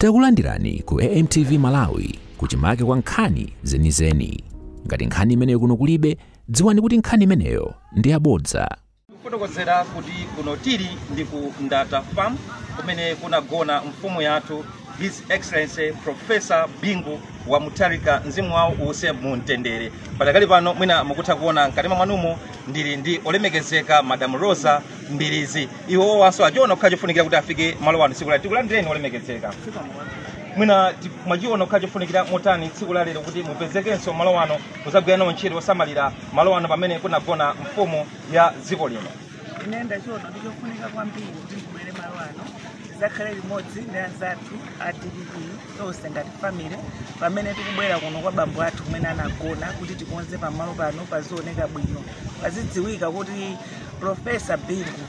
Takulandirani ku AMTV Malawi kuchimake kwa nkhani zenizeni. Ngati nkhani imeneyo kuno kulibe, dziwani kuti nkhani imeneyo ndi yabodza. kufotokozera kuti kuno tili ndi ku ndata farm kumene kunagona mfumu yathu his excellency professor bingu wa mutharika mzimu wawo uuse mu mtendere padakali pano mwina mukutha kuona m'kanema mwanumo ndili ndi olemekezeka madam rosa Mbilizi iwo awonso achiona kukhala chofunikira kuti afike malo ano tsiku la tikulandireni olemekezeka mwina ti- mwachiona kukhala chofunikira motani tsiku la lero kuti mupezekenso malo ano kuzagwira nawo ntchito yosamalira malo ano pamene kunagona mfumu ya dziko lino ine ndachiona kuti ndichofunika kwambiri kuti ndibwere malo ano zakhale limodzi ndi anzathu a dpp tonse ngati family pamene tikubwera kuno kwa bambo athu kumene anagona kuti tikonze pamalo pano pazioneka bwino pazidziwika kuti Profesa Bingu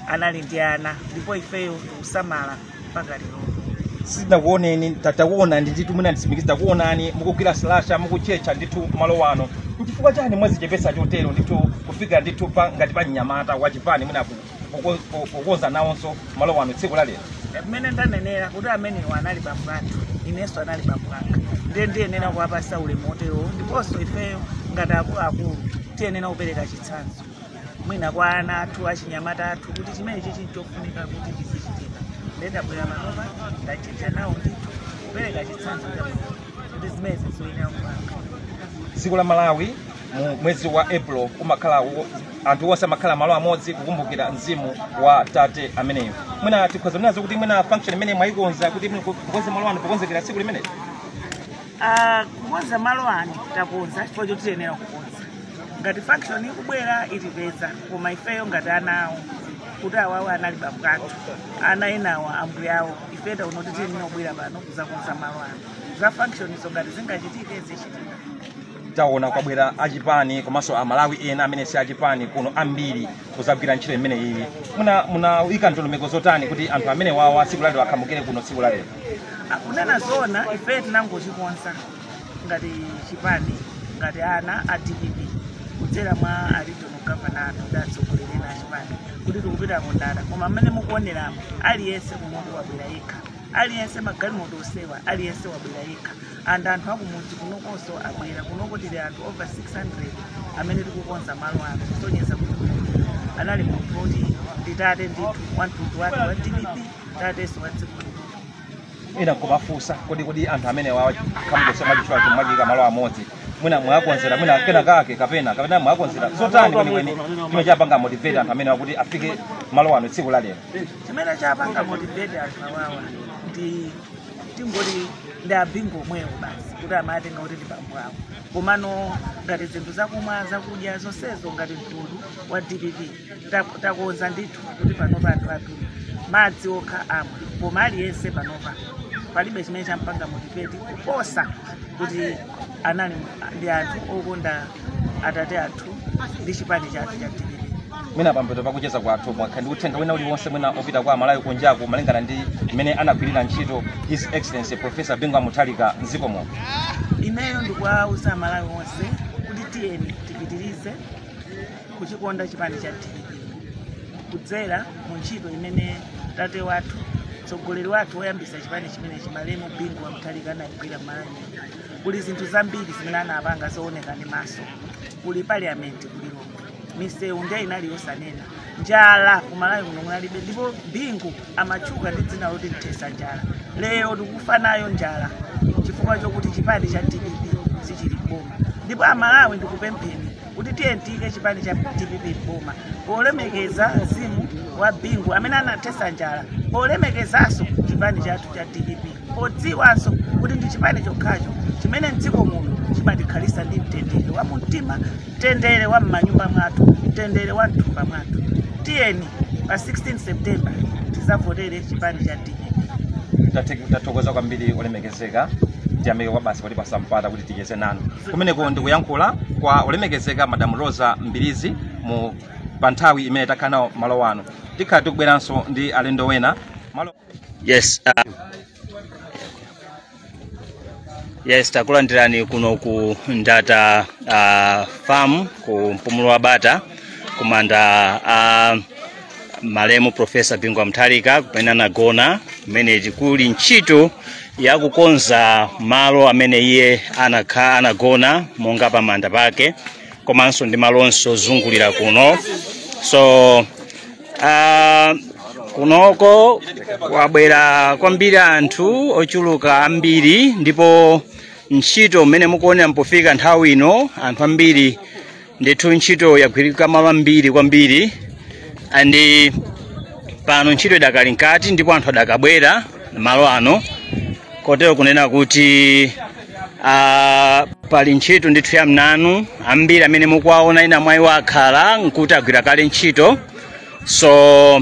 anali ndi ana ndipo ifeyo tikusamala mpaka lero. sitinakuoneni ta- takuona ndi ndithu mwina nditsimikize takuonani mukugwira slasha mukutchetcha ndithu malo ano nchifukwa chani mwazichepesa chotero ndithu kufika ndithu pa ngati pa mnyamata wachipani mwina ku- kuko- ku- kukonza nawonso malo ano tsiku la lero Mmene ndanenera kuti amenewo anali bambo athu, inenso anali bambo anga. Ndiye ndiyenera kuwapasa ulemu woterowo ndiponso ifeyo ngati akuluakulu tiyenera kupereka chitsanzo. mwina kwa ana athu achinyamata athu kuti chimenechi chinthu chofunika kuti chizichitika nde ndabwera panopa ndachita nawo ndithu kupereka chitsanzo chabwino kuti zimenezi zoyenera kupanga dziko la malawi mu mwezi wa april umakhala wo- anthu onse amakhala malo amodzi kukumbukira mzimu wa tate ameneyo mwina tikhoza kunenazo kuti mwina function imene mwayikonza kuti mwina kukonza malo ano pokonzekera tsiku limeneli Ah, kukonza malo ano takonza chifukwa chotiyenera kukonza ngati function ikubwera itipeza koma ifeyo ngati ana awo kuti awawo anali bambo athu ana enawo ambuyawo ife taona kuti tiyenera kubwera pano kuzakonza malo ano za function izo ngati zingachitike zichitika taona kwabwera achipani komanso amalawi ena amene si achipani kuno ambiri kuzagwira ntchito imeneyi muna munayika ndondomeko zotani kuti anthu amenewawa tsiku lalero akhamukire kuno tsiku lalero kunena zoona ife tinangochikonza ngati chipani ngati ana a dpp kudzera mwa a regional governor athu ndi atsogoleri ena achipani kuti tikupita ku Ndata koma mmene mukuoneramu aliyense kunoku wabwera yekha aliyense magalimoto onsewa aliyense wabwera yekha and anthu akumudzi kunokonso abwera kunoko tili anthu over 600 amene tikukonza malo ano kusonyeza kuti kunoku anali munthu oti ndi tate ndithu wa mtundu wake wa dpp tatenso wa dziko lino ena nkumafunsa kodi kodi anthu amenewa akhamuka chomwe mwachiika malo amodzi mwina mwakonzera mwina kena kake kapena kapena mwakonzera zotani kwenikweni chimene chapanga motivate anthu amenewa kuti afike malo ano tsiku la lero chimene chapanga motivate anthu awawa ndi tingoti ndi abingo omwewo basi kuti amawatenga kuti ndi bambo awo komano ngati zinthu zakumwa zakudya zonsezo ngati mtundu wa dpp takonza ndithu kuti panopa anthu athu madzi okha amwa koma aliyense panopa palibe chimene champanga motivate kuposa kuti anali ndi anthu okonda atate athu ndi chipani chathu cha dpp mwina pambuyo pakucheza kwathu mwakhala ndi uthenga wina uliwonse mwina opita kwa amalawi kunjaku malingana ndi mmene anagwirira ntchito his excellency professor bingu wa mutharika mdziko muno ineyo ndikuwauza amalawi onse kuti tiyeni tipitirize kuchikonda chipani cha dpp kudzera mu ntchito imene tate wathu mtsogoleri wathu woyambisa chipani chimenechi malemu bingu wamuthalika anayigwira mmalawi kuli zinthu zambiri zimene anapanga zooneka ndi maso kuli parliament kuli lomwe misewu ndiye inali yosanena njala kumalawi kuno kunalibe ndipo bingu amatchuka ndi dzina loti mthesa njala lero tikufa nayo njala chifukwa chokuti chipani cha dpp sichili m'boma ndipo amalawi ndikupempheni kuti tiyeni tiyike chipani cha dpp m'boma polemekeza mzimu wa bingu amene anathetsa njala polemekezanso chipani chathu cha dpp podziwanso kuti ndi chipani chokhacho chimene mdziko muno chimatikhalitsa ndi mtendere wa mumtima mtendere wa m'manyumba mwathu mtendere wa mthumba mwathu tiyeni pa 16 september tizavotere chipani cha dpp tathokoza kwambiri olemekezeka tiyamike kwambiri potipatsa mpata kuti ticheze nanu kumeneko ndikuyankhula kwa olemekezeka madam rosa mbilizi mu pa nthawi imene takhala nawo malo ano tikhala tikubweranso ndi alendo ena malo yes uh, yes takulandirani kuno ku ndata uh, farm ku mpumulo wa bata kumanda uh, malemu profesa bingu wa mtharika kumene anagona kumene kuli ntchito yakukonza malo amene iye anakhala anagona monga pamanda pake komanso ndi malo onse ozungulira kuno so uh, kunoko kwabwera kwambiri anthu ochuluka ambiri ndipo ntchito mmene mukuonera mpofika nthawi ino anthu ambiri ndithu ntchito yagwirika malo ambiri kwambiri andi pano ntchito idakali mkati ndipo anthu adakabwera malo ano kotero kunena kuti ah, pali ntchito ndithu ya mnanu ambiri amene mukuwaona ena mwa iwo akhala nkuti agwira kale ntchito so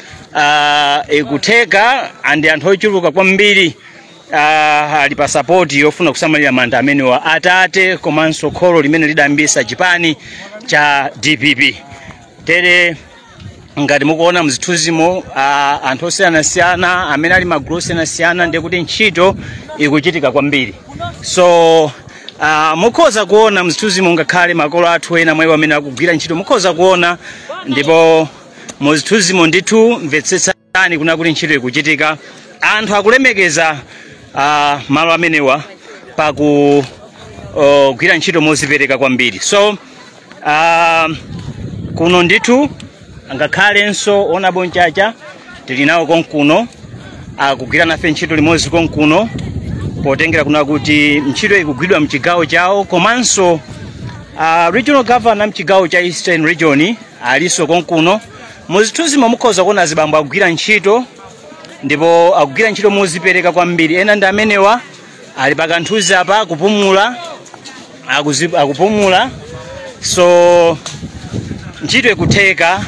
uh, ikutheka ndi anthu ochuluka kwambiri uh, ali pa sapoti yofuna kusamalira manda amenewa atate komanso kholo limene lidayambisa chipani cha dpp tere ngati mukuona mzithunzimo uh, anthu osiyanasiyana amene ali magulu osiyanasiyana ndiye kuti ntchito ikuchitika kwambiri so uh, mukhoza kuona mzithunzimo ngakhale makolo athu ena mwa iwo amene akugwira ntchito mukhoza kuona ndipo mu zithunzimo ndithu mvetsetsani kuna kuti ntchito ikuchitika anthu akulemekeza ah, malo amenewa pakugwira ntchito mozipereka kwambiri so ah, kuno ndithu ngakhalenso ona bonchacha tili nawo konkuno akugwira nafe ntchito limodzi konkuno potengera kuna kuti ntchito ikugwidwa mchigawo chawo komanso ah, regional governor mchigawo cha eastern region alinso konkuno muzithunzimo mukhoza kuona azibambo akugwira ntchito ndipo akugwira ntchito mozipereka kwambiri ena ndi amenewa ali pakanthuzi apa akupumula akuzi- akupumula so ntchito ikutheka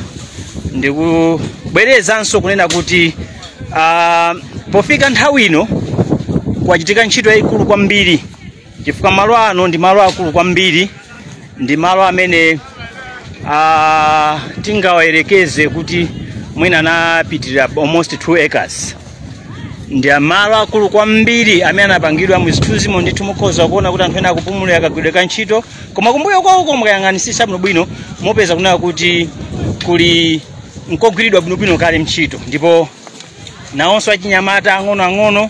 ndikubwerezanso kunena kuti ah, pofika nthawi ino kwachitika ntchito yayikulu kwambiri chifukwa malo ano ndi malo akulu kwambiri ndi malo amene ah, tingawayerekeze kuti mwina anapitirira almost 2 acres ndi malo akulu kwambiri amene anapangidwa muzithunzimo ndithu mukhoza kuona kuti anthu ena akupumulira kagwidwe ka ntchito koma kumbuyo kwawo mukayang'anisisa bwinobwino mupeza kunena kuti kuli nkogwiridwa bwinobwino kale ntchito ndipo nawonso achinyamata ang'onoang'ono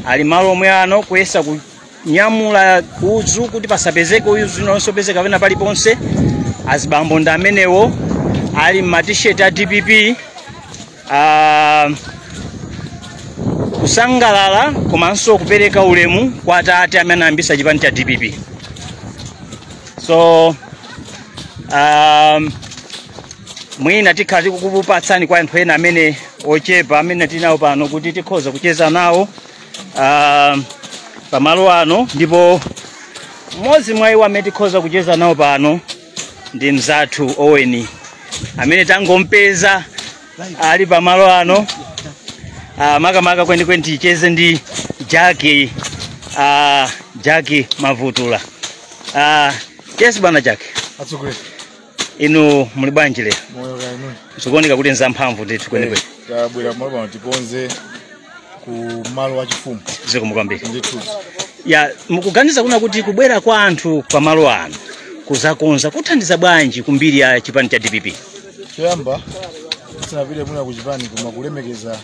ali malo omwe ano kuyesa ku- nyamula udzu kuti pasapezeke udzu winanso opezeka pena paliponse azibambo ndi amenewo ali m'matisheti a dpp ah, kusangalala komanso kupereka ulemu kwa atate amene anayambisa chipani cha dpp so um, mwina tikhala tikukupatsani kwa anthu ena amene ochepa amene tinawo pano kuti tikhoza kucheza nawo ah, pamalo ano ndipo mmodzi mwa iwo amene tikhoza kucheza nawo pano ndi mzathu oweni amene tangompeza ali pamalo ano ah, makamaka kwenikweni ticheze ndi jaki ah, jaki mavutula ah, yes bwana jaki atsogoleri inu muli bwanji lero moyo kaya inu zikuoneka kuti nzamphamvu ndithu kwenikweni tabwera malo pano tikonze ku malo achifumu zikomo kwambiri ndithu ya mukuganiza kuna kuti kubwera kwa anthu pa malo ano kuzakonza kuthandiza bwanji ku mbiri ya chipani cha dpp choyamba tisanapite mwina ku chipani koma kulemekeza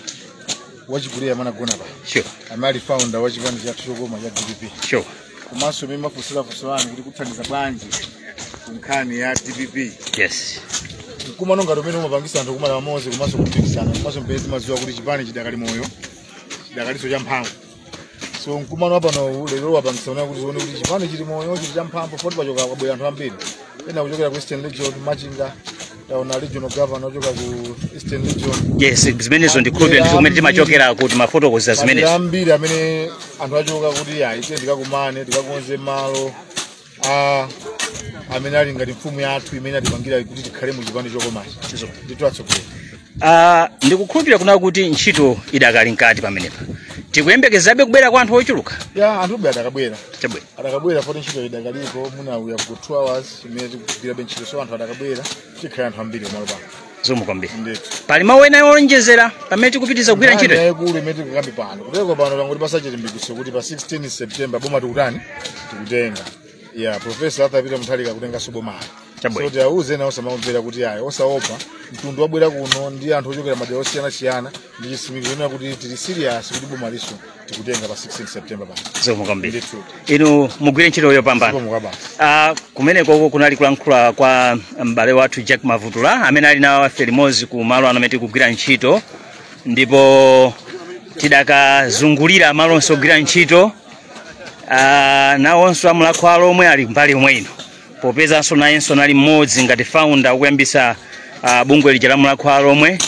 wachikulire amene agona apa sure amene ali founder wa chipani chathu chokoma cha dpp sure komanso mmene mwafunsira funso lanu kuti kuthandiza bwanji ku nkhani ya dpp yes mkumano ngati umene umapangisa anthu kukumana pamodzi komanso kupikisana komanso m'pamene timadziwa kuti chipani chidakali moyo chidakalinso cha mphamvu so mkumano wapano lero wapangisa unaye kuti tione kuti chipani chili moyo chili cha mphamvu poti pachoka kwabwera anthu ambiri ena kuchokera ku eastern region machinga taona regional governor ochoka ku eastern region yes zimenezo ndikukhulupirira ndizo kumene timachokera kuti mafotokoza madera zimenezo ambiri amene anthu achoka kuti ayi tiye tikakumane tikakonze malo a amene ali ngati mfumu yathu imene atipangira kuti tikhale mu chipani chokomachi ndithu atsogoleri Ah, ndikukhulupira kuna kuti ntchito idakali mkati pamenepa tikuyembekezabe kubwera kwa anthu ochuluka ya anthu ube adakabwera chabwino adakabwera poti ntchito idakalipo mwina ya ku 2 hours imene tikugwirabe ntchito so anthu adakabwera tikhala anthu ambiri pamalo pano zikomo kwambiri ndithu pali mawu ena owonjezera pamene tikupitiriza kugwira ntchito iyi? yayikulu imene tikukamba pano kuteroko pano yangotipatsa chilimbikitso kuti pa 16 september boma tikutani tikutenga ya profesa arthur peter mutharika akutenganso bomalo Chabwino. so tiwauze ena osamamvera kuti ayi osaopa mtundu wabwera kuno ndi anthu ochokera madera osiyanasiyana ndi chisimikizo chonena kuti tili serious kuti bomalinso tikutenga pa 16 september pano zikomo kwambiri Ndithu. inu mugwire ntchito yopambana Zikomo kwabasi. Ah, kumeneko uko kunali kulankhula kwa m'bale wathu jack mavutula amene ali nawo afe limodzi ku malo ano amene tikugwira ntchito ndipo tidakazungulira malo onse ogwira ntchito ah, nawonso a mulhako wa alhomwe ali mbali yomwe ino popezanso nayenso nali mmodzi ngati founder okuyambisa ah, bungwe lija la mulhako wa alhomwe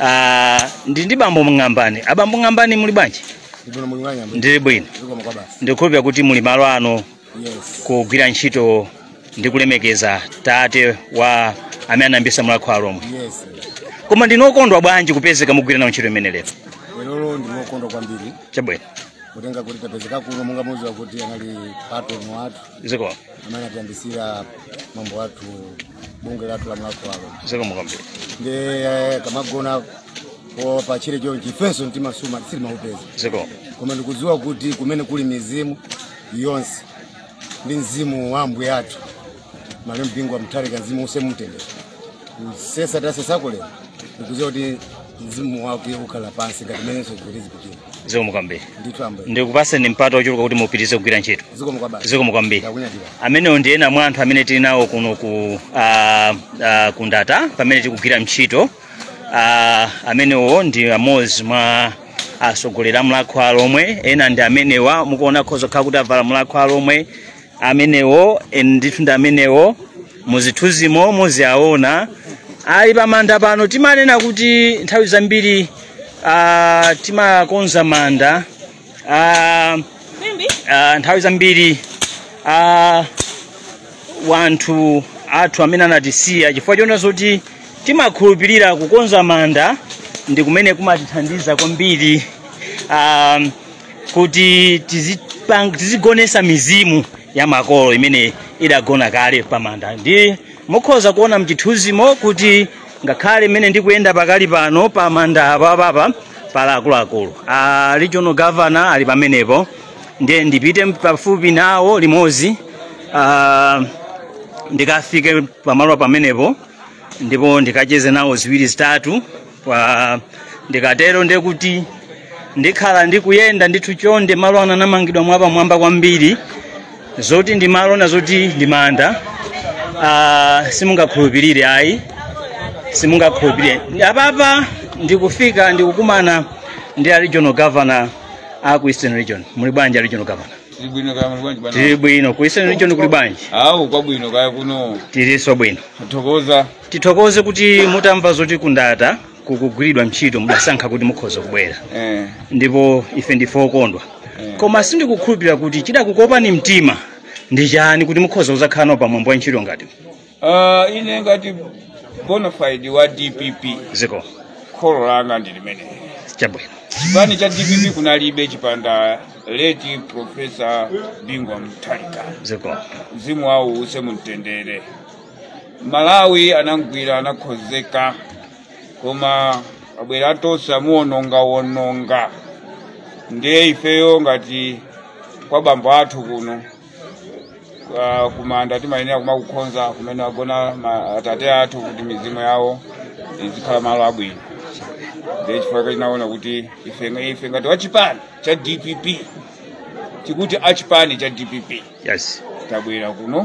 Ah, ndili ndi bambo mng'ambani abambo ng'ambani muli bwanji ndili bwino muli bwanji ambuye ndili bwino zikomo kwa basi ndikukhulupira kuti muli malo ano yes kugwira ntchito ndi kulemekeza tate wa amene anayambisa mulhako wa alhomwe yes koma ndinu okondwa bwanji kupezeka mukugwira nawo ntchito imeneyi lero lero ndine okondwa kwambiri chabwino kutengera kuti tapezeka kuno monga mudziwa kuti anali patron wathu zikomo amene anatiyambisira mambo athu bungwe lathu la mulhako wa alhomwe zikomo kwambiri ndiye akamagona pa tchire chonchi ifenso mtima suma sitimaupeza zikomo koma ndikudziwa kuti kumene kuli mizimu yonse ndi mzimu wa ambuye athu malemu bingu wa mutharika mzimu uuse mumtendere kusesa tasesako lero ndikudziwa kuti mzimu wake ukhala pansi ngati menenso zikuti zipitira zikomo kwambiri ndithu ambuye ndikupaseni mpata ochuluka kuti mupitirize kugwira ntchito zikomo kwabasi zikomo kwambiri ndakunyadira amenewo ndi ena mwa anthu amene tili nawo kuno ku ah, ah, ku ndata pamene tikugwira ntchito Ah, amenewo ndi amodzi mwa atsogoleri a Mulhako wa Alhomwe ena ndi amenewa mukuona nkhozokhala kuti avala Mulhako wa Alhomwe amenewo and ndithu ndi amenewo muzithunzimo muziaona ali pamanda pano timanena kuti nthawi zambiri ah, timakonza manda ah, ah, nthawi zambiri ah, wanthu athu amene anatisiya chifukwa chona zoti timakhulupirira kukonza manda ndi kumene kumatithandiza kwambiri um, kuti tizipang- tizigonesa mizimu ya makolo imene idagona kale pamanda ndi mukhoza kuona mchithunzimo kuti ngakhale mmene ndikuyenda pakali pano pamanda apapapa pali akuluakulu a regional governor ali pamenepo ndiye ndipite pafupi nawo limodzi ah, ndikafike pamalo pamenepo ndipo ndikacheze nawo ziwiri zitatu Kwa- ndikatero ndiye kuti ndikhala ndikuyenda ndithu chonde malo ano anamangidwa mwapamwamba kwambiri zoti ndi malo ena zoti ndi manda ah, simungakhulupirire ayi simungakhulupirire apapa ndikufika ndikukumana ndi a regional governor a ku eastern region muli bwanji a regional governor Tili bwino kaya muli bwanji bwana? tili bwino ku eastern region kuli bwanji Awu kwabwino kaya kuno tilinso bwino. Thokoza. tithokoze kuti mutamva zoti ku ndata kukugwiridwa ntchito mudasankha kuti mukhoze kubwera eh. ndipo ife ndife okondwa koma sindikukhulupirira kuti chidakukopani mtima ndi chani kuti mukhoze kuzakhala nawo pamwambo wa ntchito ngati Ah, ine ngati bonafide wa dpp zikomo kholo langa ndi limeneli chabwino chipani cha dpp kunalibe chipanda kukhala leti profesa bingu wa mutharika zikomo mzimu wawo uuse mumtendere malawi anamgwira anakhozeka koma abwera atonse amuwonongawononga ndiye ifeyo ngati kwa bambo athu kuno kwa- kumanda timayenera kumakukhonza kumene agona ma- atate athu kuti mizimu yawo izikhala malo abwino ndiye chifukwa chake tinaona kuti ife ife ngati wachipani cha dpp tikuti achipani cha dpp yes tabwera kuno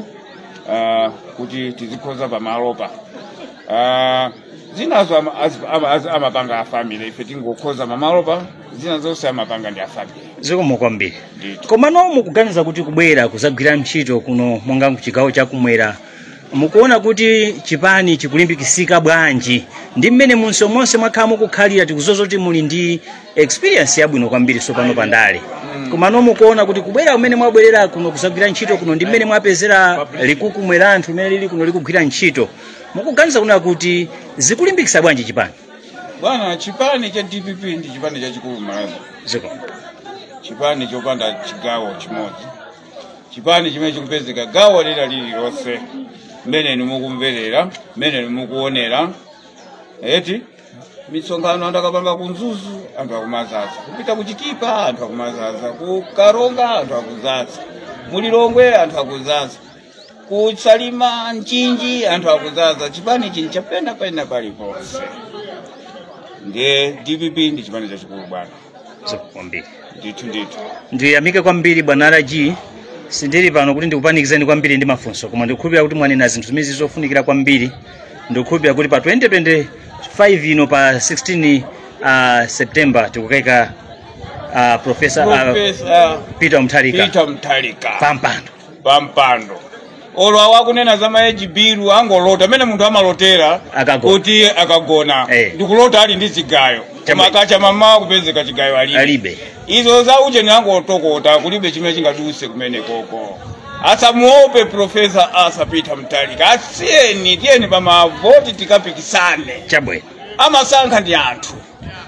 uh, kuti tizikhonza pamalopa uh, zinazo ama- az- ama- az- amapanga a family ife tingokhonza pamalopa zina zonse amapanga ndi a family zikomo kwambiri Ndithu. komano mukuganiza kuti kubwera kuzagwira ntchito kuno monga kuchigawo chakumwera mukuona kuti chipani chikulimbikisika bwanji ndi mmene munso monse mwakhala mukukhalira tikuziwa zoti muli ndi experience yabwino kwambiri tsopano pa ndale komano mukuona kuti kubwera kumene mwabwerera kuno kuzagwira ntchito kuno ndi mmene mwapezera likukumwera anthu mmene lili kuno likugwira ntchito mukuganiza kunena kuti zikulimbikitsa bwanji chipani bwana chipani cha dpp ndi chipani chachikulu m'malawi zikomo chipani chopanda chigawo chimodzi chipani chimene chikupezeka gawo lina lililonse mmene inu mukumverera mmene inu mukuonera eti misonkhano anthu akapanga ku mzuzu anthu akumazaza kupita kuchitipa anthu akumazaza kukaronga anthu akuzaza mulilongwe anthu akuzaza kusalima mchinji anthu akuzaza chipani chili china pena paliponse ndiye dpp ndi chipani chachikulu bwana zikomo kwambiri ndithu ndithu ndiyamike kwambiri bwana raji sindili pano kuti ndikupanikizeni kwambiri ndi mafunso koma ndikukhulupirira kuti mwanena zinthu zimene zizofunikira kwambiri ndikukhulupirira kuti pa 2025 ino pa 16 uh, september tikukaika uh, profesa peter mutharika pampando pa mpando olo awo akunena za ma age bill angolota mmene munthu amalotera kuti akagona Eh. ndikulota ali ndi chigayo Chama- koma akacha m'mamawa kupezeka chigayo alibe alibe izo za ujeni angotokota kulibe chimene chingaduse kumenekoko asamuope profesa arthur peter mutharika asiyeni tiyeni pamavoti tikapikisane chabwino amasankha ndi anthu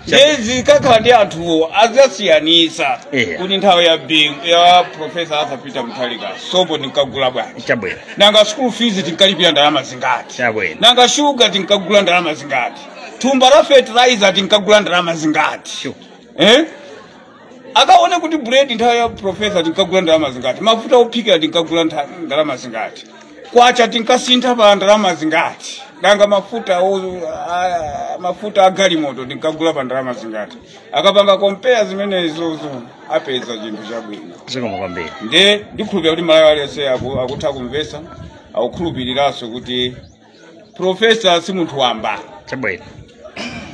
ndiye zikakhala ndi anthuwo adzasiyanitsa Yeah. kuti nthawi ya bingu ya profesa arthur peter mutharika sopo tinkagula bwanji chabwino nanga school fees tinkalipira ndalama zingati chabwino nanga shuga tinkagula ndalama zingati thumba la fertilizer tinkagula ndalama zingati Sure. eh? akaone kuti buledi nthawi ya profesa tinkagula ndalama zingati mafuta ophikira tinkagula ntha- ndalama zingati kwacha tinkasintha pa ndalama zingati nanga mafuta o- a- mafuta a galimoto tinkagula pa ndalama zingati akapanga compare zimenezozo apeza chinthu chabwino zikomo kwambiri nde ndikhulupirira kuti mmalawi aliyense aku- akutha kumvetsa akukhulupiriranso kuti profesa si munthu wamba chabwino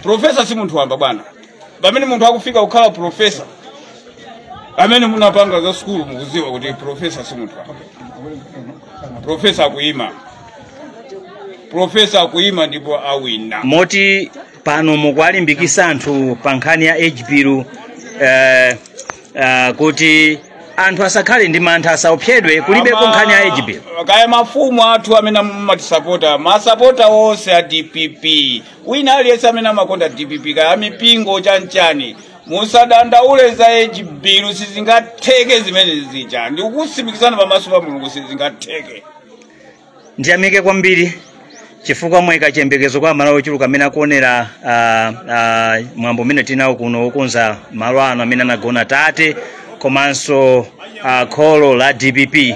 profesa si munthu wamba bwana pamene munthu akufika kukhala profesa amene munapanga za sukulu mukudziwa kuti profesa si munthu wamba profesa akuyima profesa akuyima ndipo awina moti pano mukuwalimbikitsa anthu pa nkhani ya age bill eh, eh, kuti anthu asakhale ndi mantha asaopsedwe kulibeko Ama- nkhani ya age bill kaya mafumu athu amene amatisapota masapota onse a dpp wina aliyense amene amakonda dpp kaya amipingo chanchani musadandaule za age bill sizingatheke zimene zija ndikukutsimikizirani pamaso pa mulungu sizingatheke ndiyamike kwambiri chifukwa mwayika chiyembekezo kwa amalawi ochuluka amene akuonera ah, ah, mwambo umene tinawo kuno wokonza malo ano amene anagona tate komanso ah, kholo la dpp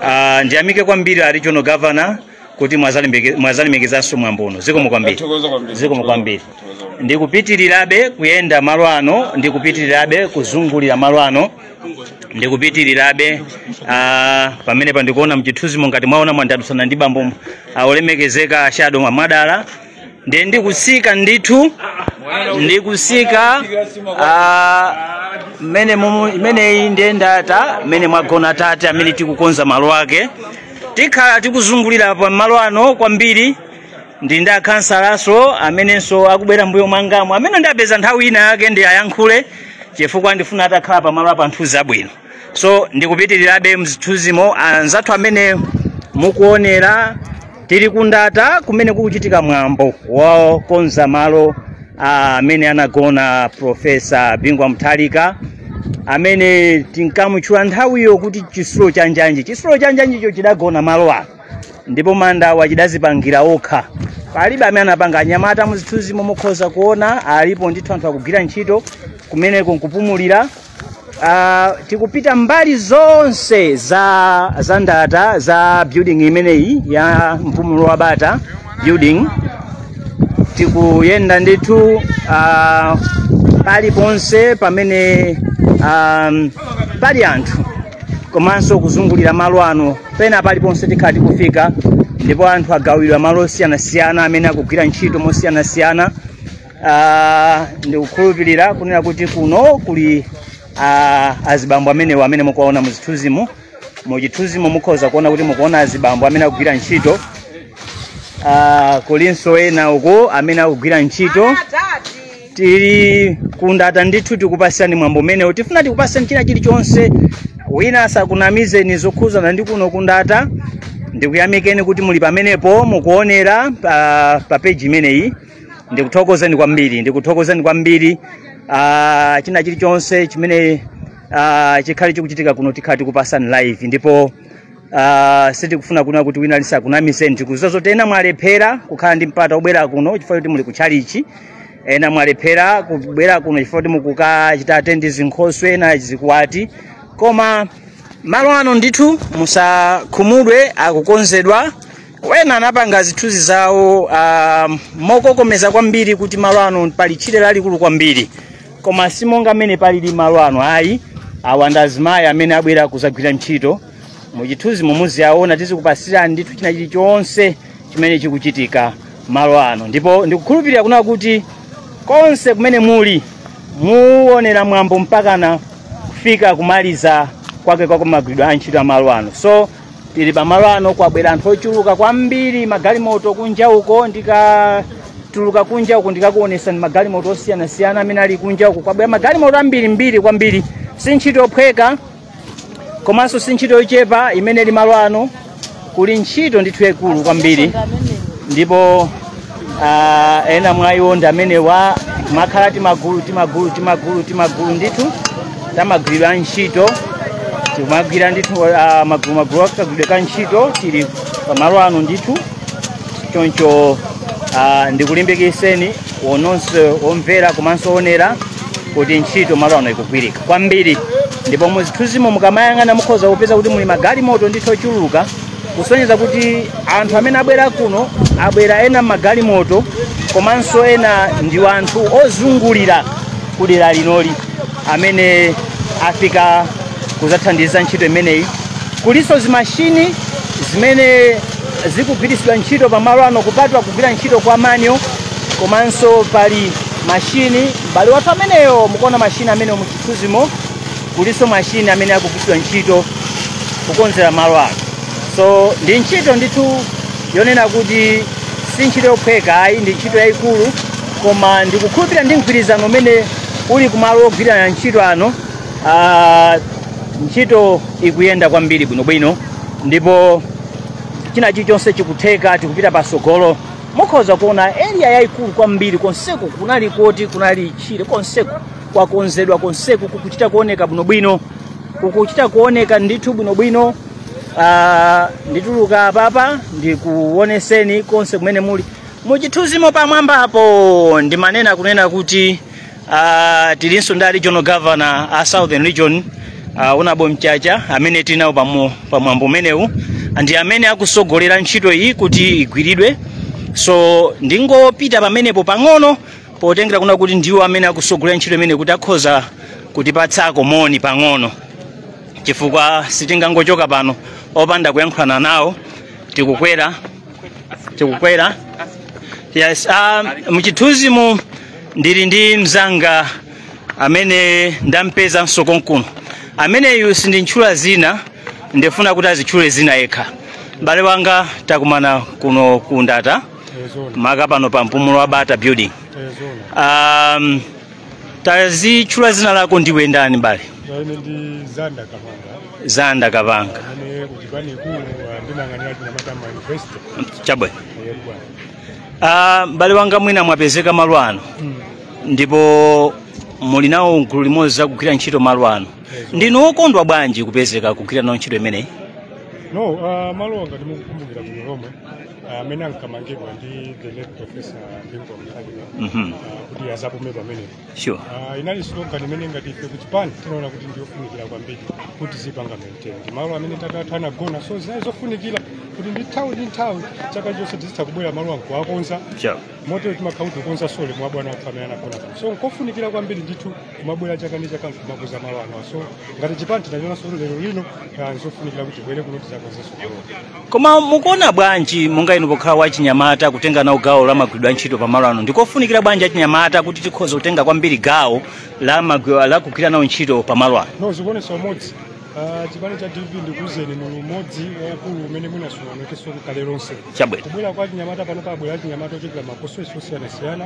Ah, ndiyamike kwambiri a regional governor kuti mwazalemeke- mwazalemekezanso mwambo uno zikomo kwambiri Tathokoza kwambiri. zikomo kwambiri Tathokoza kwambiri. ndikupitirirabe kuyenda malo ano ndikupitirirabe kuzungulira malo ano ndikupitirirabe ah, pamene pandikuona mchithunzimo ngati mwaona mwandadusana ndi bambo olemekezeka a Shadow Mwadala ndiye ndikusika ndithu ndikusika ah, mmene mumu- imeneyi ndiye ndata mmene mwagona tate amene tikukonza malo ake tikhala tikuzungulira pa malo ano kwambiri ndi ndi akhansalanso amenenso akubwera mmbuyo mwangamo amene ndapeza nthawi ina yake ndiwayankhule chifukwa ndifuna atakhala pamalo apa mthunzi wabwino so ndikupitirirabe mzithunzimo anzathu amene mukuonera tili kundata kumene kukuchitika mwambo wokonza malo amene anagona profesa bingu wa mutharika amene tinkamutchula nthawiyo kuti chisulo cha njanji chisulo cha njanjicho chidagona malo ano ndipo manda ake chidazipangira okha palibe amene anapanga anyamata muzithunzimo mukhoza kuona alipo ndithu anthu akugwira ntchito kumeneko nkupumulira Ah, tikupita mbali zonse za za ndata za building imeneyi ya mpumulo wa bata building tikuyenda ndithu uh, paliponse pamene um, pali anthu komanso kuzungulira malo ano pena paliponse tikhala tikufika ndipo anthu agawidwa malo osiyanasiyana amene akugwira ntchito mosiyanasiyana Ah, ndikukhulupirira kunena kuti kuno kuli ah, azibambo amenewo amene mukuwaona muzithunzimo muchithunzimo mukhoza kuona kuti mukuona azibambo amene akugwira ntchito Ah, kulinso ena uku amene akugwira ntchito tili kundata ndithu tikupasirani mwambo umenewu tifuna tikupaseni china chilichonse wina asakunamizeni zokhuzana ndi kuno kundata ndikuyamikeni kuti muli pamenepo mukuonera pa, pa peji imeneyi ndikuthokozeni kwambiri ndikuthokozeni kwambiri uh, china chilichonse chimene uh, chikhale chikuchitika kuno tikhala tikupasani live ndipo Uh, sitikufuna kunena kuti wina aliyense akunamizeni tikuziwa zoti ena mwalephera kukhala ndi mpata obwera kuno chifukwa kuti muli kutchalichi ena mwalephera kubwera kuno chifukwa kuti mukukachita atendi zinkhoswe ena zikwati koma malo ano ndithu musakhumudwe akukonzedwa ena anapanga zithunzi zawo uh, mokokomeza kwambiri kuti malo ano pali tchire lalikulu kwambiri koma si monga mmene palili malo ano ayi awa ndi azimayi amene abwera kuzagwira ntchito muchithunzimo muziyaona tizikupasirani ndithu china chilichonse chimene chikuchitika malo ano ndipo ndikukhulupirira kuna kuti konse kumene muli muonera mwambo mpakana kufika kumaliza kwake kwa kumagwiridwe a ntchito a malo ano so tili pa malo ano kwabwera anthu ochuluka kwambiri magalimoto kunja uko ndikatuluka kunja uko ndikakuonesani magalimoto osiyanasiyana amene ali kunja uko kwabwera magalimoto ambirimbiri kwambiri si ntchito yophweka komanso si ntchito yochepa imene ili malo ano kuli ntchito ndithu yaikulu kwambiri ndipo ah, ena mwa iwo ndi amenewa akhala timagulu timagulu timagulu timagulu ndithu tamagwiridwe a ntchito timagwira ndithu ah, magulu magulu akagwiridwe ka ntchito tili pamalo ano ndithu choncho ah, ndikulimbikiseni onse omvera komanso onera kuti ntchito malo ano ikugwirika kwambiri ndipo muzithunzimo mukamayang'ana mukhoza kupeza kuti muli magalimoto ndithu ochuluka kusonyeza kuti anthu amene abwera kuno abwera ena m'magalimoto komanso ena ndi anthu ozungulira kudera linoli amene afika kuzathandiza ntchito imeneyi kulinso zimashini zimene zikugwiritsidwa ntchito pamalo ano kupatula kugwira ntchito kwa manja komanso pali mashini m'bale wathu ameneyo mukuona mashini ameneyo muchithunzimo kulinso mashini amene akugwiritsidwa ntchito kukonzera malo ano so ndi ntchito ndithu yonena kuti si ntchito yophweka ayi ndi ntchito yayikulu koma ndikukhulupirira ndi mgwirizano umene uli kumalo ogwira ntchito ano ah, ntchito ikuyenda kwambiri bwinobwino ndipo china chilichonse chikutheka tikupita patsogolo mukhoza kuona area yayikulu kwambiri konseku kunali koti kunali tchire konseku kwakonzedwa konseku kukuchita kuoneka bwinobwino kukuchita kuoneka ndithu bwinobwino Ah, ndituluka apapa ndikuoneseni konse kumene muli muchithunzimo pamwambapo ndimanena kunena kuti Uh, tilinso ndi regional governor a southern region uh, Honourable Mchacha amene tili nawo pamo- pamwambo umenewu ndi amene akusogolera ntchito iyi kuti igwiridwe so ndingopita pamenepo pang'ono potengera kuna kuti ndiwo amene akusogolera ntchito imene kuti akhoza kutipatsako moni pang'ono chifukwa sitingangochoka pano opanda kuyankhulana nawo tikukwera tikukwera yes um, muchithunzimu ndili ndi mzanga amene ndampezanso konkuno ameneyu sindintchula zina ndifuna kuti azitchule zina yekha m'bale wanga takumana kuno ku Ndata maka pano pa Mpumulo wa Bata building um, tazitchula zina lako ndiwe ndani m'bale Ine ndi Zanda Kapanga zanda kapanga amene kuchipani ikulu ah, ndimayang'anira achinyamata ma university chabwino yebwa Ah, m'bale wanga mwina mwapezeka malo ano ndipo muli nawo gulu limodzi zakugwira ntchito malo ano ndinu wokondwa bwanji kupezeka kugwira nawo ntchito imeneyi no ah, malo ano ndi mukukumbukira bwino lomwe amene ankamangidwa ndi the late professor Bingu wa Mutharika Mhm. ah, kuti azapume pamenepo sure Ah, inali slogan imene ngati ife kuchipani tinaona kuti ndiyofunikira kwambiri kuti tizipanga maintain ndi malo amene tata athu anagona so zinali zofunikira kuti ndi nthawi ndi nthawi chaka chonse tizitha kubwera malo ano nkuwakonza sure motero timakhala kuti tikukonza soul ya bwana athu amene anagona pano so nkofunikira kwambiri ndithu kumabwera chaka ndi chaka anthu kumakonza malo ano so ngati chipani tinachonanso kuti lero lino ah, nzofunikira kuti tibwere kuno tizakonzenso malo koma mukuona bwanji monga inu pokhala wachinyamata kutenga nawo gawo la kugwira ntchito pa malo ano ndikofunikira bwanji achinyamata kuti tikhoze kutenga kwambiri gawo la magwi- la kugwira nawo ntchito pa malo ano no zikuonesa umodzi Ah, chipani cha dpp ndikuuzeni muli umodzi waukulu umene sunaonekenso kale lonse chabwino kubwera kwa achinyamata pano pabwera achinyamata ochokera ma constituency osiyanasiyana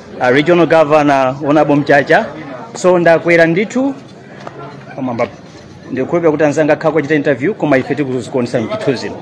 uh, regional governor honorable mchacha so ndakwera ndithu pamwamba ndikukhulupirira kuti anzanga akhala akuwachita interview koma ife tizikuonetsa mchithunzimo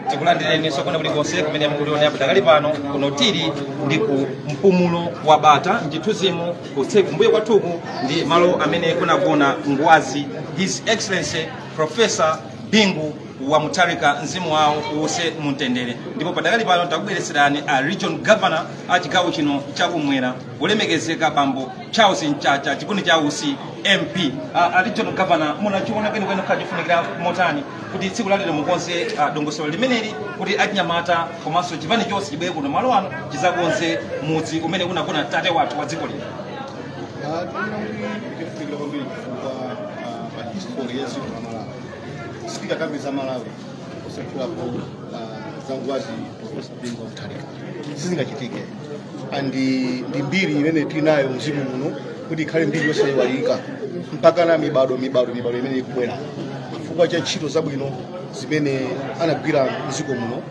tikulandireni nonse kulikonse kumene mukutionera padakali pano kuno tili ndi ku Mpumulo wa bata mchithunzimo konse kumbuyo kwathuku ndi malo amene kunagona ngwazi his excellency professor bingu wa mutharika mzimu wawo uwuse mumtendere ndipo padakali pano takubweretserani a region governor a chigawo chino chakumwera olemekezeka bambo charles mchacha nduna cha ulimi MP uh, regional governor munachiona kwenikweni kukhala chofunikira motani kuti tsiku lalero mukonze uh, dongosolo limeneli kuti achinyamata komanso chipani chonse chibwere kuno malo ano chizakonze mudzi umene kunagona tate wathu wa dziko lino Ah, tikuona kuti ndikofunikira kwambiri chifukwa ah, pa history ya dziko la malawi sitingakambe za malawi osatchulapo ah, za ngwazi Bingu wa Mutharika sizingachitike and ndi mbiri imene tinayo mziko muno kuti ikhale mbiri yosayiwalika mpaka na mibado mibado mibado imene ikubwera chifukwa cha ntchito zabwino zimene anagwira mziko muno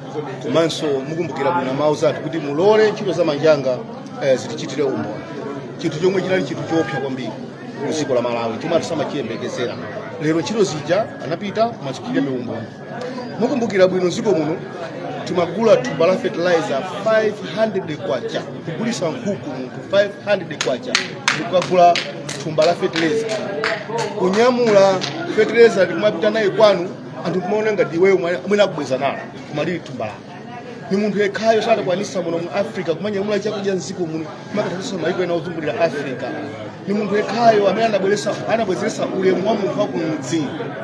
komanso mukumbukira bwino mawu aja akuti mulole ntchito za manjanga eh, zitichitire umboni chinthu chomwe chinali chinthu choopsa kwambiri mdziko la malawi chomwe anthu samachiyembekezera lero ntchito zija anapita zikuwachitira umboni mukumbukira bwino dziko muno timagula thumba la fertilizer 500 kwacha kugulisa nkhuku munthu 500 kwacha mukagula thumba la fertilizer kunyamula fertilizer nkumapita naye kwanu anthu kumaona ngati iweyo mwina ukubweza nalo koma lili thumba lako ni munthu yekhayo adakwanisa muno mu africa kumanyamula chakudya mdziko muno nkukadyetsa maiko ena ozungulira africa ni munthu yekhayo amene anabweresa anabwezeretsa ulemu wa munthu wakumudzi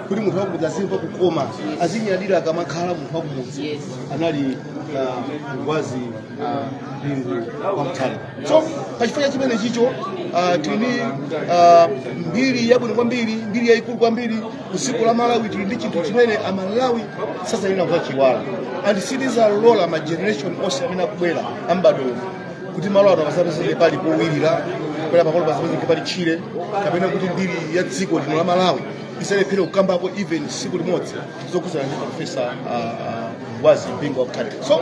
kuti munthu wakumudzi azimva kukoma azinyadira akamakhala munthu wakumudzi anali ah, ngwazi ah, bingu wa mutharika so pachifukwa chimene chicho ah, tili ni ah, mbiri yabwino kwambiri mbiri yayikulu kwambiri dziko la malawi tili ndi chinthu chimene amalawi sazayenera kuchiwala and sitizalola ma generation onse amene akubwera ambadwo kuti malo ano pasapezeke pali powilira kapena pamalo pasapezeke pali tchire kapena kuti mbiri ya dziko lino la malawi izalephere kukambapo even siku limodzi zokhudzana ndi profesa ah, ah, ngwazi bingu wa mutharika so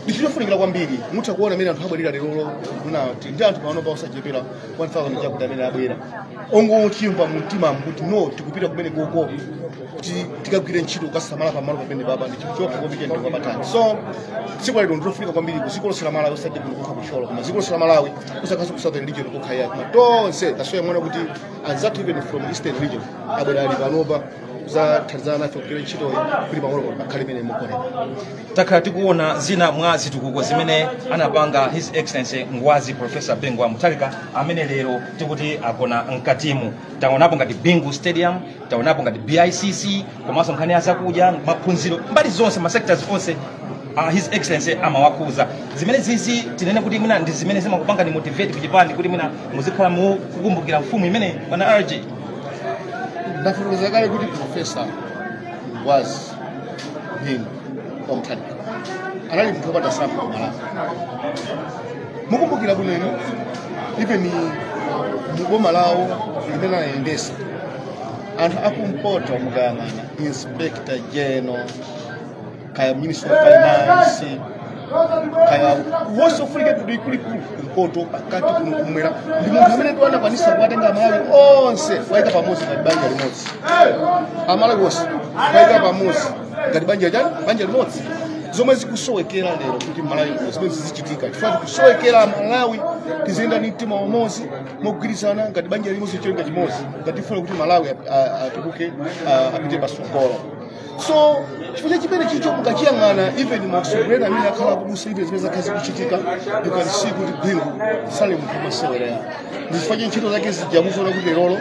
ndi chofunikira kwambiri mutha kuona mmene anthu abwerera lerolo kuno tili ndi anthu panopa osachepera 1000 chakuti amene abwera kungochimva mu mtima kuti no tikupita komweko kuti tikagwire ntchito kukasamala pamalo pamenepapa ndi chinthu chokoma kwambiri ndi chapatali so tsiku la lero ndilofunika kwambiri ku dziko lonse la malawi osati kuno kokha ku thyolo koma dziko lonse la malawi usakhaleso ku southern region kokha ayi koma tonse tazionera kuti anzathu even from eastern region abwera ali panopa kuzathandizana nafe kugwira ntchitoyi kuti pamalo kuti pakhale mmene mukuonera takhala tikuona zina mwa zitukuko zimene anapanga his excellency ngwazi professor bingu wa mutharika amene lero tikuti agona mkatimu taonapo ngati bingu stadium taonapo ngati bicc komanso nkhani ya zakudya maphunziro mbali zonse masectors onse uh, his excellency amawakhuza zimenezizi tinene kuti mwina ndi zimene zimakupangani motivate kuchipani kuti mwina muzikhala mukukumbukira mfumu imeneyi bwana rg ndafotokoza kale kuti profesa ngwazi bingu wa mutharika anali munthu wopanda tsankho ku malawi mukumbukira bwino inu even muboma lawo limene anayendesa anthu akumpoto mukayang'ana inspector general kaya ministry of finance kaya ose ofunika akuluakulu kumpoto pakati kuno kumwera ndi munthu amene anakwanisa kuwatenga amalawi onse kuwayika pamodzi ngati banja limodzi amalawi onse kuwayika pamodzi ngati banja chani banja limodzi zomwe zikusowekera lero kuti malawi kuno zimenezi zichitika chifukwa tikusowekera amalawi tiziyenda ndi mtima umodzi mogwirizana ngati banja limodzi cholinga chimodzi ngati tifuna kuti malawi a- a- atukuke a- apite pasogolo so chifukwa chimene chicho mukachiyang'ana even masomphenya amene akhala akubusa ife zimene zakhala zikuchitika you can see kuti bingu sali munthu wamasewera ndi chifukwa cha ntchito zake zijamuzoona kuti lerolo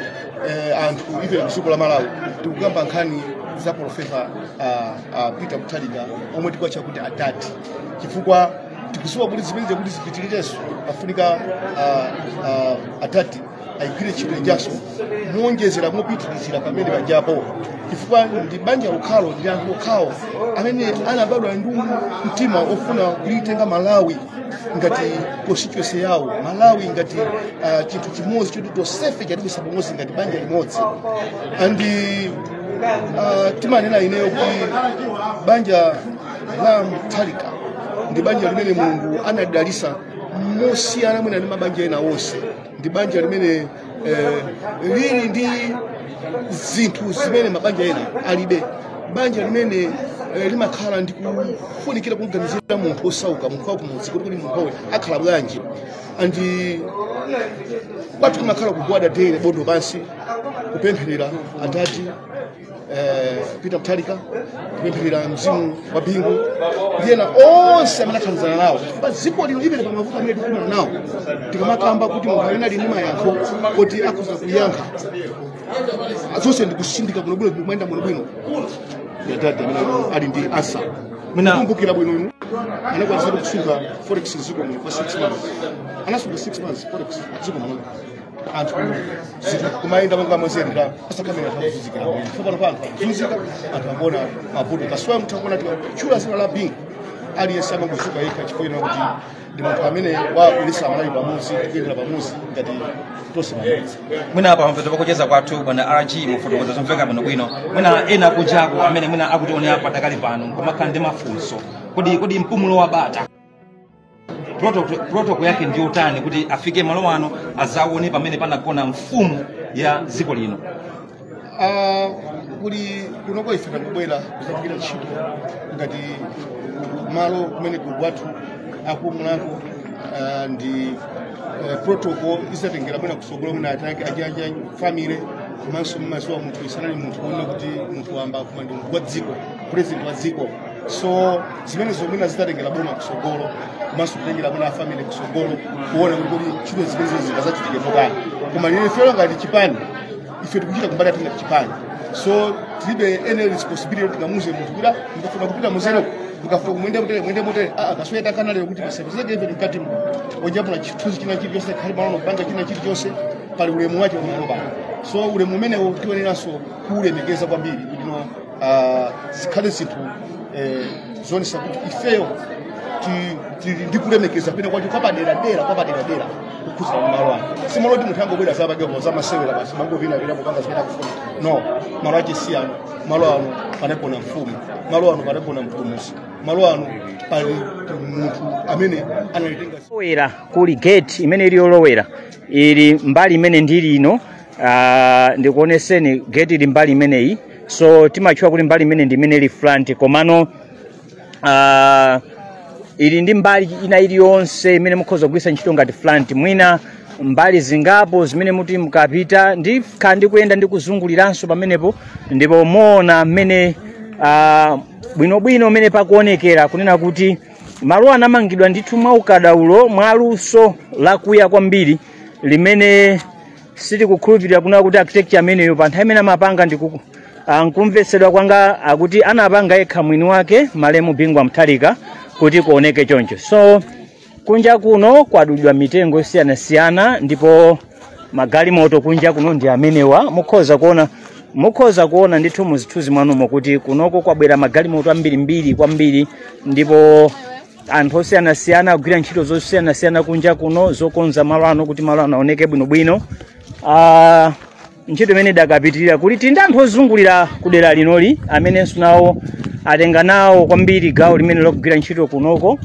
eh, anthu ife mdziko la malawi tikukamba nkhani za profesa uh, uh, peter mutharika omwe tikuwatcha kuti adati chifukwa tikuziwa kuti zimene zakuti zipitirirenso afunika uh, uh, adati ayigwire ntchito ijanso moonjezera mopitilizira pamene pajapo chifukwa ndi banja lokhalo ndi anthu okhawo amene anabadwa ndi mtima ofuna kulitenga malawi ngati constituency yawo malawi ngati uh, chinthu chimodzi choti tonsefe chatibweretsa pamodzi ngati banja limodzi and uh, timanena ineyo kuti banja la mutharika ndi banja limene mulungu anadalitsa mosiyana mwina ndi mabanja ena onse ndi banja limene eh, lili ndi zinthu zimene mabanja ena alibe banja limene eh, limakhala ndi kufunikira kumganizira munthu wosauka munthu wakumudzi kuti kodi munthuyu akhala bwanji and kwathu kumakhala kugwada dere bondo pansi kupempherera adadi eh, peter mutharika kupempherera mzimu wa bingu ndi ena onse amene athandizana nawo pa dziko lino limene pa mavuto amene tikukumana nawo tikamakamba kuti munthu amene ali ndi mayankho kuti akhoza kuyankha zonse ndikutsendeka bwinobwino kumayenda bwinobwino ndi adadi amene ali ndi answer Mina- kumbukira bwino inu anakwanitsa kusunga forex mdziko muno kwa 6 months anasunga 6 months forex mdziko muno anthu zinthu kumayenda monga mwezeni la asakamira takuzunzikira tsopano pano anthu akuzunzika anthu akuona mavuto kasuwa mutha kuona tikatchula dzina la bingu aliyense amangodzuka yekha chifukwa kuti ndi munthu amene wakulitsa malawi pamodzi tikuyendera pamodzi ngati tonse pamodzi mwina apa pamapeto pakucheza kwathu bwana rg mwafotokoza zomveka bwinobwino mwina ena kunjaku amene mwina akutionera padakali pano nkumakhala ndi mafunso kodi mpumulo wa bata protocol yake ndi yotani kuti afike malo ano azaone pamene panagona mfumu ya dziko lino Ah, kuli kunoko ife takubwera kuzagwira ntchito ngati malo kumene kuli kwathu akumulhako ah, ndi eh, protocol izatengera mwina kutsogolo mwina atake ajaja family komanso mmaziwa munthuyu sanali munthu kunena kuti munthu wamba koma ndi munthu wa dziko president wa dziko so zimenezo mwina zizatengera boma kusogolo komanso kutengera mwina afamili kusogolo kuona kuti kodi ntchito zimenezo zingazachitike motani koma lero ifeyo ngati chipani ife tikuchita kumbali yathu ngati chipani so tilibe any responsibility kuti tikamuuze munthu kuti ndikafuna kupita muzereko ndikafuna ku muyende motere muyende motere aa komanso takana lero kuti pasapezeke ife mkati muno ojapula chithunzi china chilichonse kuli malo ano kupanga china chilichonse pali ulemu wake pamalo pano so ulemu umenewo tiyeneranso kuulemekeza kwambiri kuti no ah, zikhale zinthu eh, zoonesa kuti ifeyo ti- tili ndi kulemekeza penakwake kwapaderadera kukhuza malo ano si malo oti munthu angobwera zakepo zamasewera basi n'kumangopita pita kupanga zimene akufuna no malo ake si ano malo ano panagona mfumu malo ano panagona mpulumusi malo ano pali munthu amene analitenga lowera kuli gate imene ili yolowera ili mbali imene ndili ino ah, ndikuoneseni gate ili mbali imeneyi so timatchula kuti mbali imeneyi ndi imene ili front komano ah, ili ndi mbali ina iliyonse imene mukhoza kugwiritsa ntchito ngati front mwina mbali zingapo zimene muti mukapita ndi kha ndi kuyenda ndi kuzunguliranso pamenepo ndipo muona mmene ah, bwinobwino mmene pakuonekera kunena kuti malo anamangidwa ndithu mwa ukadaulo mwa luso lakuya kwambiri limene sitikukhulupirira kunena kuti architecture ameneyo pa nthawi imene amapanga ndi kumvetsedwa kwanga akuti anapanga yekha mwini wake malemu bingu wa mutharika kuti kuoneke choncho so kunja kuno kwadulidwa mitengo yosiyanasiyana ndipo magalimoto kunja kuno ndi amenewa mukhoza kuona ndithu muzithunzi mwanumo kuti kunoko kwabwera magalimoto ambirimbiri kwambiri ndipo anthu osiyanasiyana akugwira ntchito zosiyanasiyana kunja kuno zokonza malo ano kuti malo ano aoneke bwinobwino Ah, ntchito imene idakapitirira kuti ndi anthu ozungulira ku dera linoli amenenso nawo atenga nawo kwambiri gawo limene logwira ntchito kunoko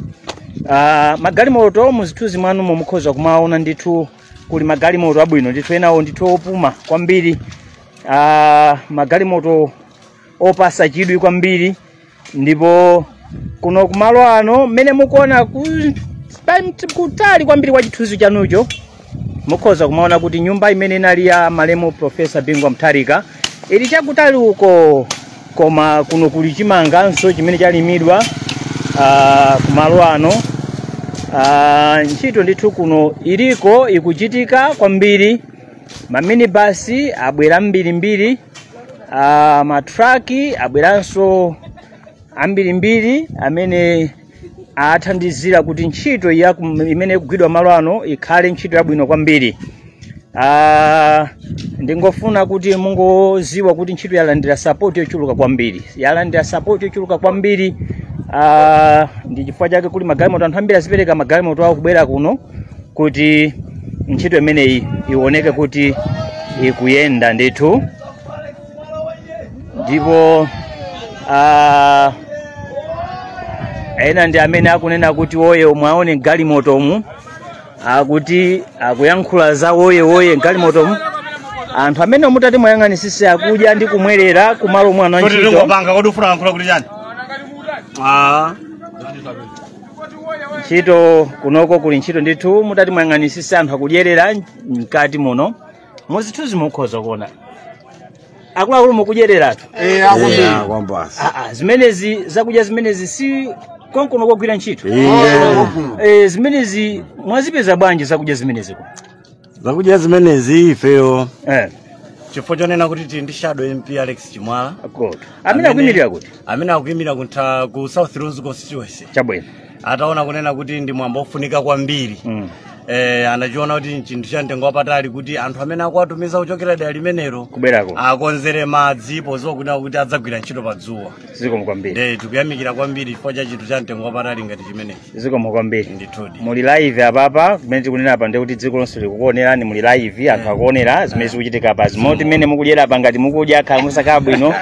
Ah, magalimoto muzithunzi mwanu mukhoza kumaona ndithu kuli magalimoto abwino ndithu enawo ndithu opuma kwambiri Ah, magalimoto opasa chidwi kwambiri ndipo kuno kumalo ano mmene mukuona ku- pa- kutali kwambiri kwa chithunzi chanucho mukhoza kumaona kuti nyumba imene inali ya malemu profesa bingu wa mutharika ili chakutali uko koma kuno kuli chimanganso chimene chalimidwa ah, kumalo ano Ah, ntchito ndithu kuno iliko ikuchitika kwambiri maminibasi abwera ambirimbiri ah, matraki abweranso ambirimbiri amene athandizira kuti ntchito ya kum- imene ikugwidwa malo ano ikhale ntchito yabwino kwambiri Ah, ndingofuna kuti mungoziwa kuti ntchito yalandira sapoti yochuluka kwambiri yalandira sapoti yochuluka kwambiri Ah, ndi chifukwa chake kuli magalimoto anthu ambiri adzipereka magalimoto awo kubwera kuno kuti ntchito imeneyi ioneke kuti ikuyenda ndithu ndipo ah, ena ndi amene akunena kuti woye mwaone mgalimotomu akuti akuyankhula za woye woye mgalimotomu anthu amene mutati mwayang'anisisa akudya ndi kumwerera kumalo omwe ano ntchito ndikupanga kodi ufuna lankhula kuti chani? Ah. ntchito kunoko kuli ntchito ndithu mutati mwayang'anisisa anthu akudyerera mkati muno muzithuzi mukhoza kuona akuluakulu mukudyereratu Eh, akuti. Yeah, kwambasa. Aa, zimenezi zakudya zimenezi si konkono kogwira ntchito Yeah. Eh, zimenezi mwazipeza bwanji zakudya zimenezi zakudya zimenezi ifeyo eh chifukwa chonena kuti tili ndi shadow mp alex chimwala good amene akuyimirira kuti amene akuyimirira ku south lunzu constituency chabwino ataona kunena kuti ndi mwambo ofunika kwambiri Mm. eh, anachiona kuti nchinthu cha mtengo wapatali kuti anthu amene akuwatumiza kuchokera dera limenelo Kubwerako. akonzere madzi poziwa kunena kuti adzagwira ntchito pa dzuwa zikomo kwambiri Eh, tikuyamikira kwambiri chifukwa cha chinthu cha mtengo wapatali ngati chimenechi zikomo kwambiri ndithudi muli live apapa mmene tikunena apa ndi kuti dziko lonse likukuonerani muli live anthu akuonera zimene zikuchitika apa zomoti mmene mukudyera apa ngati mukudya akhala musakhala bwino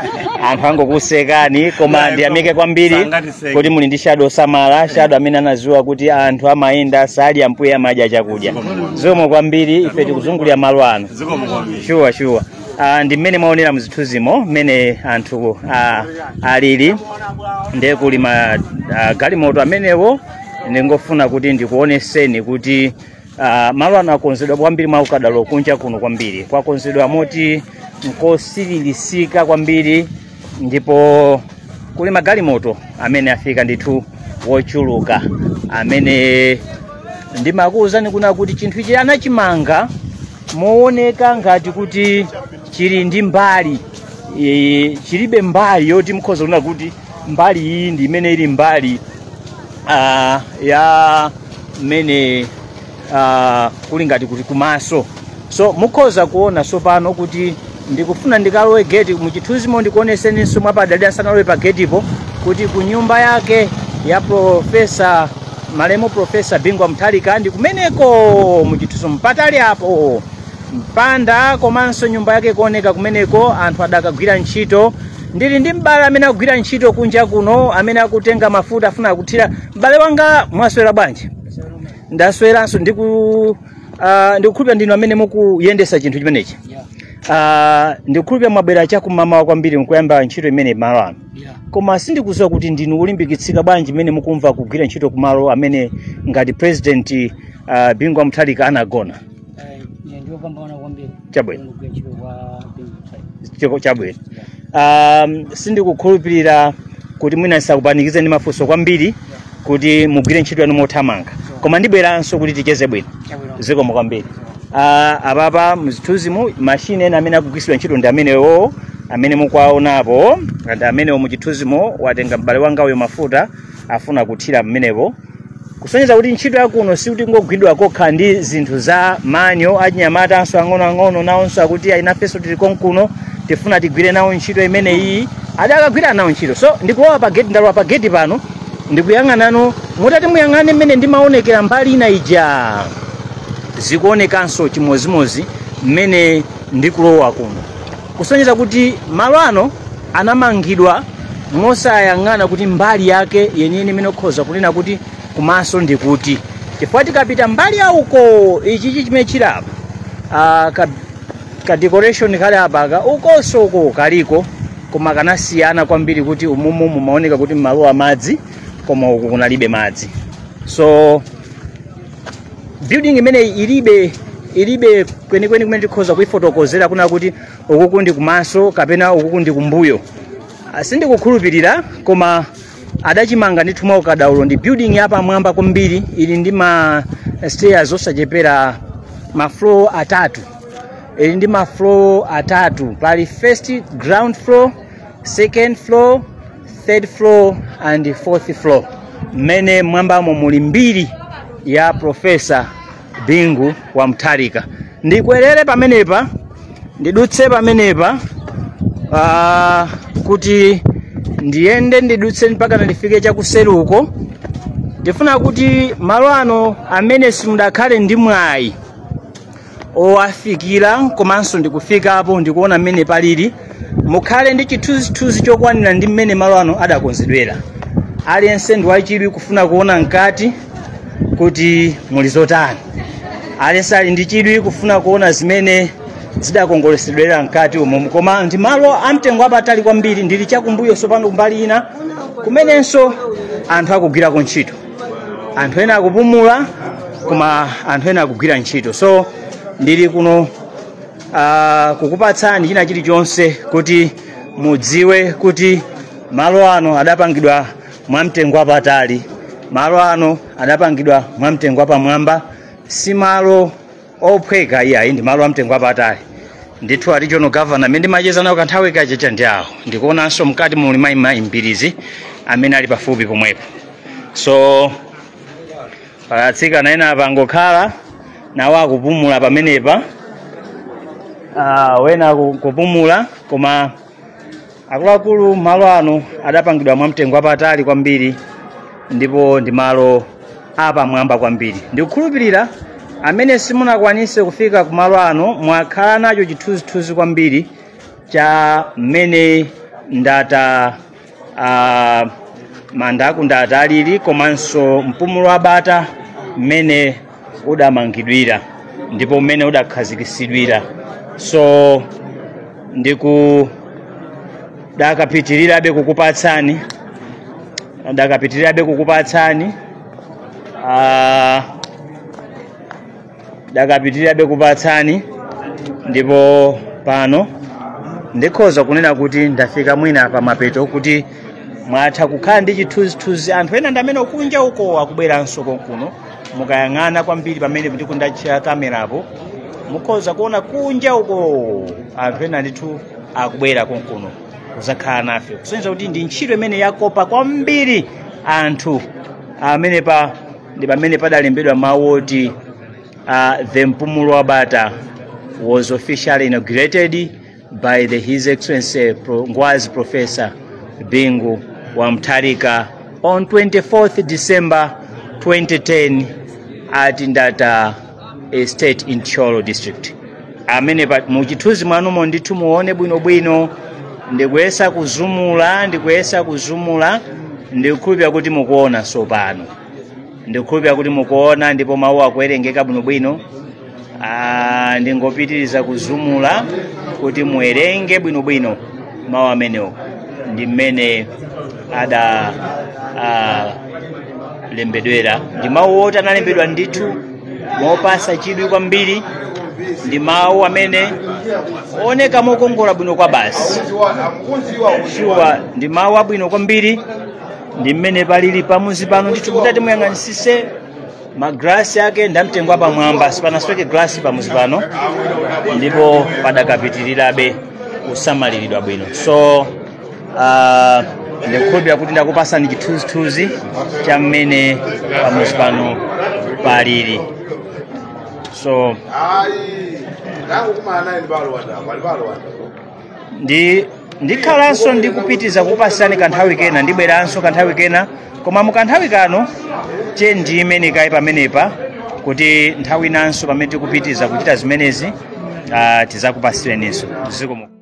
anthu angokusekani koma ndiyamike kwambiri Sangatiseke. kuti muli ndi shado osamala shado amene anaziwa kuti anthu amayenda sadya mpweya amadya chakudya zikomo kwambiri ife tikuzungulira malo ano zikomo kwambiri shuwa shuwa Ah, ndi mmene mwaonera muzithunzimo mmene anthu ah, alili ndiye kuli ma ah, galimoto amenewo ndingofuna kuti ndikuoneseni kuti ah, malo ano akonzedwa kwambiri mwaukadaulo kunja kuno kwambiri kwakonzedwa moti nkosililika kwambiri ndipo kuli magalimoto amene afika ndithu wochuluka amene ndimakuwuzani kuna kuti chinthu ichi anachimanga mowoneka ngati kuti chili ndi mbali e, chilibe mbali yoti mukhoza kunena kuti mbali iyi ndi imene ili mbali ah, ya mmene ah, kuli ngati kuti kumaso so mukhoza kuona tsopano kuti ndikufuna ndikalowe geti muchithunzimo ndikuoneseninso mwapatali ndisanalowe pa getipo kuti ku nyumba yake ya profesa malemu profesa bingwa mutharika ndi kumeneko muchithunzimo patali apo mpanda komanso nyumba yake kuoneka kumeneko anthu adakagwira ntchito ndili ndi m'bale amene akugwira ntchito kunja kuno amene akutenga mafuta afuna kuthira m'bale wanga mwaswera bwanji ndasweranso ndiku Ah, ndikukhulupira ndinu amene mukuyendesa chinthu chimenechi Yeah, Ah, ndikukhulupira mwabwera chakumamawa kwambiri mkuyamba ntchito imene malo ano yeah. koma sindikuziwa kuti ndinu olimbikitsika bwanji mmene mukumva kugwira ntchito kumalo amene ngati president uh, bingu wa mutharika anagona Eh, ndiopambana kwambiri chabwino kugwira ntchito kwa bingu mtharika chabwino um, sindikukhulupirira kuti mwina ndisakupanikize ndi mafunso kwambiri kuti mugwire ntchito yanu mothamanga koma ndibweranso kuti ticheze bwino chabwino zikomo kwambiri uh, apapa mzithunzimu mashini ena amene akugwiritsidwa ntchito ndi amenewo amene mukuwaonapo ndi amenewo muchithunzimu watenga m'bale wanga uyo mafuta afuna kuthira mmenepo kusonyeza kuti ntchito yakuno sikuti ingogwidwa kokha ndi zinthu za manja achinyamatanso ang'onoang'ono nawonso akuti ayi nafenso tili konkuno tifuna tigwire nawo ntchito imeneyi ada adakagwira nawo ntchito so ndikulowa pa geti ndalowa pa geti pano ndikuyang'ana muti muyang'ane mmene ndimaonekera mbali ina ija zikuonekanso chimozimozi mmene ndikulowa kuno kusonyeza kuti malo ano anamangidwa mosayang'ana kuti mbali yake yeniyeni imene ukhoza kunena kuti kumaso ndi kuti chifukwa tikapita mbali ya uko ichichi chimene chili apa ah, ka, ka decoration kali apaka ukunso uko kaliko koma kangosiyana kwambiri kuti umumu mumaoneka kuti mmalowa madzi koma uku kunalibe madzi so building imeneyi ilibe ilibe kwenikweni kumene tikhoza kuifotokozera kunena kuti ukuku ndi kumaso kapena ukuku ndi kumbuyo Ah, sindikukhulupirira koma adachimanga ndithu mwa ukadaulo ndi building yapamwamba kwambiri ili ndi ma stairs osachepera ma floor atatu ili ndi ma floor atatu pali first ground floor second floor third floor and fourth floor mmene mmwambamo muli mbiri ya profesa bingu wa mtharika ndikwerere pamenepa ndidutse pamenepa ah, kuti ndiyende ndidutse mpaka ndifike chakuseruko ndifuna kuti malo ano amene simudakhale ndi mwayi owafikira komanso ndikufikapo ndikuona mmene palili mukhale ndi chithunzithunzi chokwanira ndi mmene malo ano adakonzedwera aliyense ndi wachidwi kufuna kuona mkati kuti muli zotani aliyense ali ndi chidwi kufuna kuona zimene zidakongoletsedwera mkati umo koma ndi malo amtengo wapatali kwambiri ndili chakumbuyo sopano kumbali ina kumenenso anthu akugwirako ntchito anthu ena akupumula koma anthu ena akugwira ntchito so ndili kuno uh, kukupatsani china chilichonse kuti mudziwe kuti malo ano adapangidwa mwamtengo wapatali malo ano adapangidwa mwamtengo wapamwamba si malo ophweka iyayi ndi malo amtengo apatali ndithu a regional governor amene ndimacheza nawo kanthawi kachecha ndi awo ndikuonanso mkati muli mayi Mbilizi amene ali pafupi pomwepo so pala atsikana ena apa angokhala nawo akupumula pamenepa ah, wena akupumula koma akuluakulu malo ano adapangidwa mwa mtengo wapatali kwambiri ndipo ndi malo apamwamba kwambiri ndikukhulupirira amene simunakwanise kufika ku malo ano mwakhala nacho chithunzithunzi kwambiri cha mmene ndata manda aku ndata alili komanso mpumulo wa bata mmene udamangidwira ndipo mmene udakhazikisidwira so ndikudakapitirirabe kukupatsani ndakapitirirabe kukupatsani ah, ndakapitirirabe kupatsani ndipo pano ndikhoza kunena kuti ndafika mwina pa mapeto kuti mwatha kukhala ndi chithunzithunzi anthu ena ndi amene kunja uko akubweranso konkuno mukayang'ana kwambiri pamene ndiku- ndatchera kamerapo mukhoza kuona kunja uko anthu ena ndithu akubwera konkuno kuzakhala nafe kusonyeza kuti ndi ntchito imene yakopa kwambiri anthu amene pa ndi pamene padalembedwa mawu oti uh, the mpumulo wa bata was officially inaugurated by the his excellency Pro- ngwazi professor bingu wa mutharika on 24th december 2010 at ndata estate in Thyolo district amene pa- mu chithunzi mwanumo ndithu muone bwinobwino ndikuyesa kuzumula ndikuyesa kuzumula ndikukhulupira kuti mukuona tsopano ndikukhulupira kuti mukuona ndipo mawu akuwerengeka bwinobwino Ah, ndingopitiriza kuzumula kuti muwerenge bwinobwino mawu amenewo ndi mmene adalembedwera ndi mawu oti analembedwa ndithu mopasa chidwi kwambiri ndi mawu amene oneka mokongola bwino kwa basi shuwa ndi mawu abwino kwambiri ndi mmene palili pamuzi pano ndithu kuti mutati muyang'anisise magrasi ake ndamtengo apamwamba sipanasweke grasi pamuzi pano ndipo padakapitirirabe kusamaliridwa bwino so Ah, ndikukhulupirira kuti ndakupasani chithunzithunzi cha mmene pamuzi pano palili so ndikhalanso ndikupitiza kukupasirani kanthawi kena ndibweranso kanthawi kena koma mu kanthawi kano che ndiimire kaye pamenepa kuti nthawi inanso pamene tikupitiza kuchita zimenezi ah, tizakupasireninso zikomo